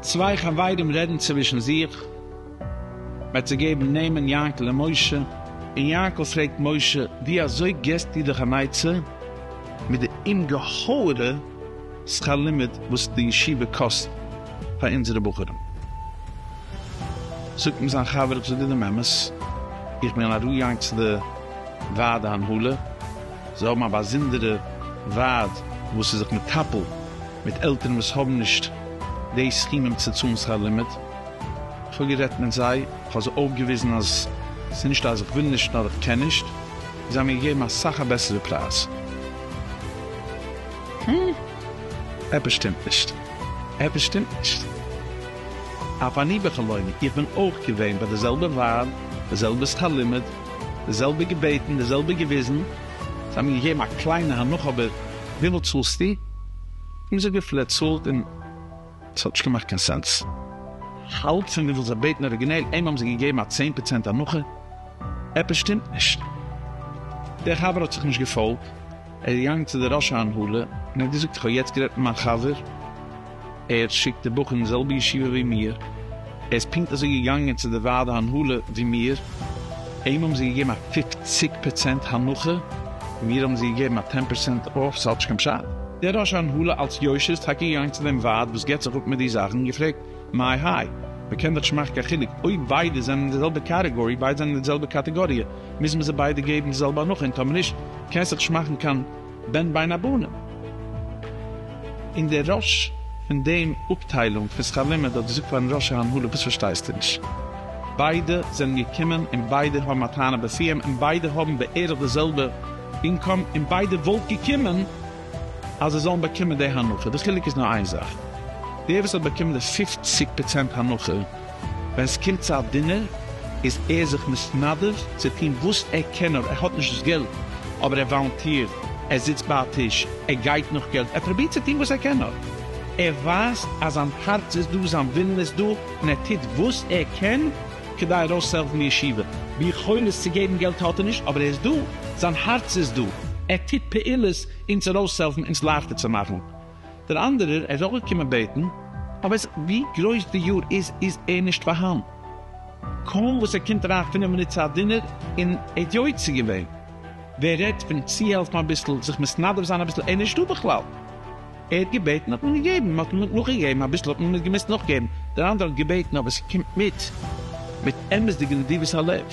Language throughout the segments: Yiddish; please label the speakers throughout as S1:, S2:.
S1: צוויי חברים רעדן צווישן זיך, מ'האט זיי געבן נעמען יענקל און משה, און יענקל פרעגט משה, ווי אזוי געסטו דיך אן עצה מיט די אומגעהויערע שכר לימוד וואס די ישיבה קאסט? פאר אונזערע בחורים. זאגט אים זיין חבר, איך זאג דיר דעם אמת, איך בין ארויגעגאנגען צו די ועד ההנהלה, זיי האבן א באזונדערע ועד וואס איז זיך מטפל מיט עלטערן וואס האבן נישט די סכומים צו צאלן שכר לימוד, איך האב גערעדט מיט זיי, איך האב זיי אויפגעוויזן אז עס איז נישטא אז איך וויל נישט נאר איך קען נישט, און זיי האבן מיר געגעבן אסאך א בעסערע פרייז. עפעס שטימט נישט. עפעס שטימט נישט. אף אני בחלומי, איך בין אויך געווען ביי די זעלבע ווייב, די זעלבע שכר לימוד, די זעלבע געבעטן, די זעלבע געוויזן, זיי האבן מיר געגעבן א קליינע הנחה אבער וויפיל צאלסטו? איך האב געזאגט וויפיל ער צאלט און עס האט נישט געמאכט קיין סענס. האלב פון וויפיל זיי בעטן אריגינעל, אים האבן זיי געגעבן א צען פראצענט הנחה. עפעס שטימט נישט. דער חבר האט זיך נישט געפאלגט. ער איז געגאנגען צו די ראש ההנהלה און האט געזאגט איך האב יעצט גערעדט מיט מיין חבר ער שיקט די בחור אין די זעלבע ישיבה ווי מיר ער איז פונקט אזוי געגאנגען צו די ועד ההנהלה ווי מיר אים האבן זיי געגעבן א פֿופֿציק פערצענט הנחה און מיר האבן זיי געגעבן א טען פערסענט אףף ס'האט נישט קיין פשט. דער ראש ההנהלה אלץ יושר איז טאקע געגאנגען צו דעם ועד וואס געבט זיך אפ מיט די זאכן און געפרעגט מאי האי מ'קען דאך נישט מאכן קיין חילוק אויב ביידע זענען אין די זעלבע קאטעגארי ביידע זענען אין די זעלבע קאטעגאריע מוז מען זיי ביידע געבן די זעלבע הנחה, און טאמער נישט קען זיך נישט מאכן קיין בן בין הבנים. און דער ראש פון דעם אפטיילונג פון שכר לימוד האט געזאגט פארן ראש ההנהלה וואס פארשטייסטו נישט? ביידע זענען געקומען און ביידע האבן א טענה בפיהם און ביידע האבן בערך די זעלבע אינקאם און ביידע וואלט געקומען אז זיי זאלן באקומען די הנחה, די חילוק איז נאר איין זאך, דער וואס האט באקומען די פֿופֿציק פראצענט הנחה, ווען ס'קומט צו א דינער איז ער זיך מתנדב צו טון וואס ער קען נאר, ער האט נישט דאס געלט אבער ער וואלונטירט, ער זיצט ביי א טיש, ער גייט נאך געלט, ער פרובירט צו טון וואס ער קען נאר, ער ווייזט אז זיין הארץ איז דא, זיין ווילן איז דא, און ער טוט וואס ער קען כדי ארויסצוהעלפן די ישיבה. ביכולת צו געבן געלט האט ער נישט אבער ער איז דא, זיין הארץ איז דא, ער טוט פעולות אונז ארויסצוהעלפן, אונז לייכטער צו מאכן. דער אנדערער איז אויך געקומען בעטן, אבער עס ווי גרויס די יאר איז איז ער נישט פארהאן, קוים וואס ער קומט אריין פינף מינוט צו א דינער און ער האט יוצא געווען, ווער רעדט פון צוהעלפן אביסל, זיך מתנדב זיין אביסל, ער איז נישטא בכלל. ער האט געבעטן האט מען געגעבן, מען האט נאכגעגעבן אביסל האט מען נישט געמוזט נאכגעבן, דער אנדערער האט געבעטן אבער ס'קומט מיט מיט אמת'דיגע נדיבות הלב.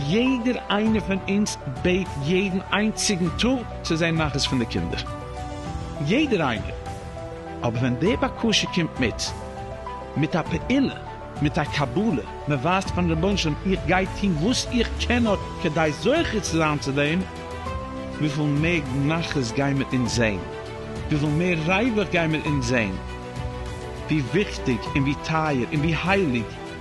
S1: יעדער איינער פון אונז בעט יעדן איינציגן טאג צו זען נחת פון די קינדער, יעדער איינער, אבער ווען די בקשה קומט מיט מיט א פעולה, מיט א קבלה, מען ווייזט פארן רבונו של עולם איך גיי טון וואס איך קען נאר כדי זוכה צו זיין צו דעם, וויפיל מער נחת גייען מיר אונז זען, וויפיל מער ריווח גייען מיר אונז זען, ווי וויכטיג און ווי טייער און ווי הייליג,